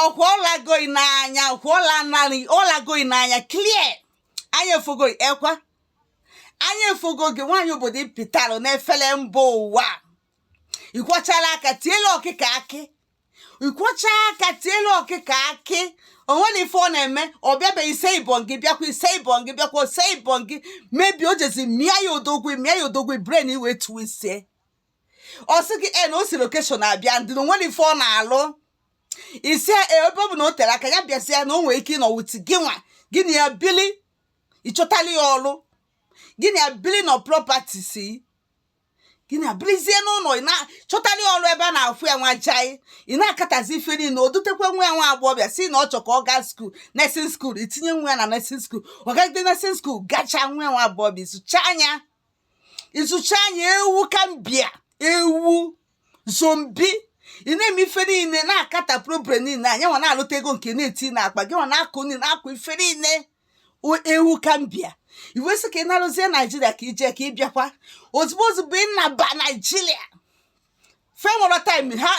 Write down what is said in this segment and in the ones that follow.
ọkwa ọlagoyi n'anya ọkwa ọla narị ọlagoyi n'anya clear anya efogoyi ekwa anya efogo gị nwaanyị obodo ịpịtalụ n'efele mba ụwa ị kwọchala aka tielu ọkụkọ akị ị kwọcha aka tielu ọkụkọ akị o nwere ife ọ na-eme ọ bịabeghị ise ibon gị bịakwa ise ibon gị bịakwa ise ibon gị mebi o jezi mịa ya odogwu mịa ya odogwu brain i wee twistie ọ sị gị e na o si location abịa ndị na o nwere ife ọ na-alụ ị sị ebe ọ bụ na o tere aka ya bịasịa na o nwere ike ịnọ with gị nwa gị na ya bili ị chọtali ya ọrụ gị na ya bili na properties gị na ya bilizie n'ụlọ ị na-chọtali ya ọrụ ebe a na-afụ ya nwa jai ị na-akatazi ife niile o dutekwa nwa ya nwa agbọghọbịa si na ọ chọ ka ọ gaa school nursing school i tinye nwa ya na nursing school ọ gagide nursing school gachaa nwa ya nwa agbọghọbịa ị zụchaa ya ị zụchaa ya ewu gambia ewu zombie ị na-eme ife niile na-akata problem niile ya nwa na-alụta ego nke na-eti n'akpa gị nwa na-akwụ niile na-akwụ ife niile ewu gambia i wee sị ka ị narụzie naijiria ka i je ka ị bịakwa ozugbo ozugbo ị naba naijiria fa enwerọ time ha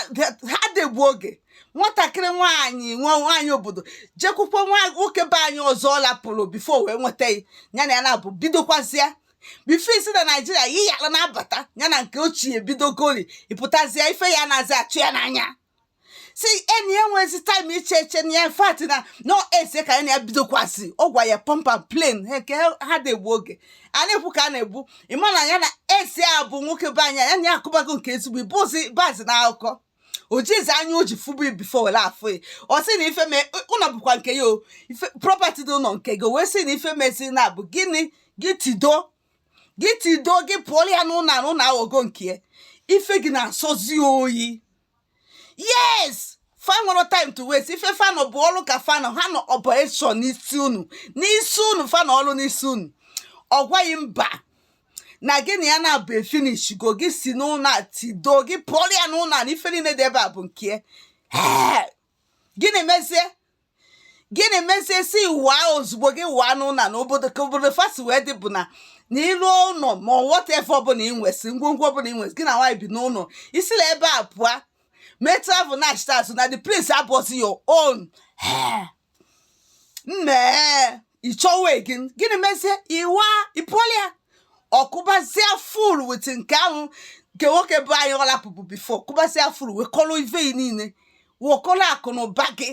adị egbu oge nwatakịrị nwaanyị nwa nwaanyị obodo jekwukwa nwa nwoke be anyị ọzọ ọ lapụrụ before wee nweta gị ya na ya naabọ bidokwazịa before i si na naijiria yi ya ala na-abata ya na nke ochie bidogoli ị pụtazịa ife ya na-azị achụ ya n'anya si enyi ya nwezi time iche eche na ya fat na nọ ex ka ya na ya bidokwasị ọ gwa ya pump and plain nke ha adị egbu oge a na-ekwu ka a na-egbu ị ma na ya na ex a bụ nwoke be anyị ya na ya akụbago nke ezigbo ị bụzi bazi na akụkọ o jizi anya o ji fụbu before were afụ ya ọ sị na ife mee ụlọ bụkwa nke ya o property dị ụlọ nke gị o wee sị na ife mezi na bụ gịnị gị tido gị tido gị pụọlụ ya n'ụlọ na ụlọ aghọgo nke ya ife gị na-asọzi oyi yes fa enwerọ time to waste ife fa nọ bụ ọrụ ka fa nọ ha nọ operation n'isi unu n'isi unu fa nọ ọrụ n'isi unu ọ gwa gị mba na gị na ya naabọ efinishgo gị si n'ụlọ a tido gị pụọrọ ya n'ụlọ a na ife niile dị ebe a bụ nke gịnị mezie gịnị mezie si waa ozugbo gị waa n'ụlọ na obodo ka obodo fa si wee dị bụ na na ị lụ ụnọ ma whatever ọbụla ị nwesị ngwongwo ọbụla ị nwesị gị na nwaanyị bi n'ụnọ i si na ebe a pụọ mee travel nachịta azụ na the place abụrọzi your own mee ị chọwa again gịnị mezie i wee pụọlụ ya ọ kụbazie full with nke ahụ nke nwoke be anyị ọ lapụrụ before kụbazia full wekọrọ ive niile wekọrọ akụ na ụba gị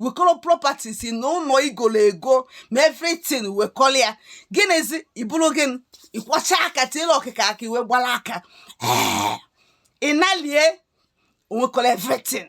wekọrọ properties na ụlọ i golu ego ma everything wekọrọ ya gịnịzi iburu gị ị kwọcha aka tiere ọkụkọ akị i wee gbara aka ị nalie o wekọrọ everything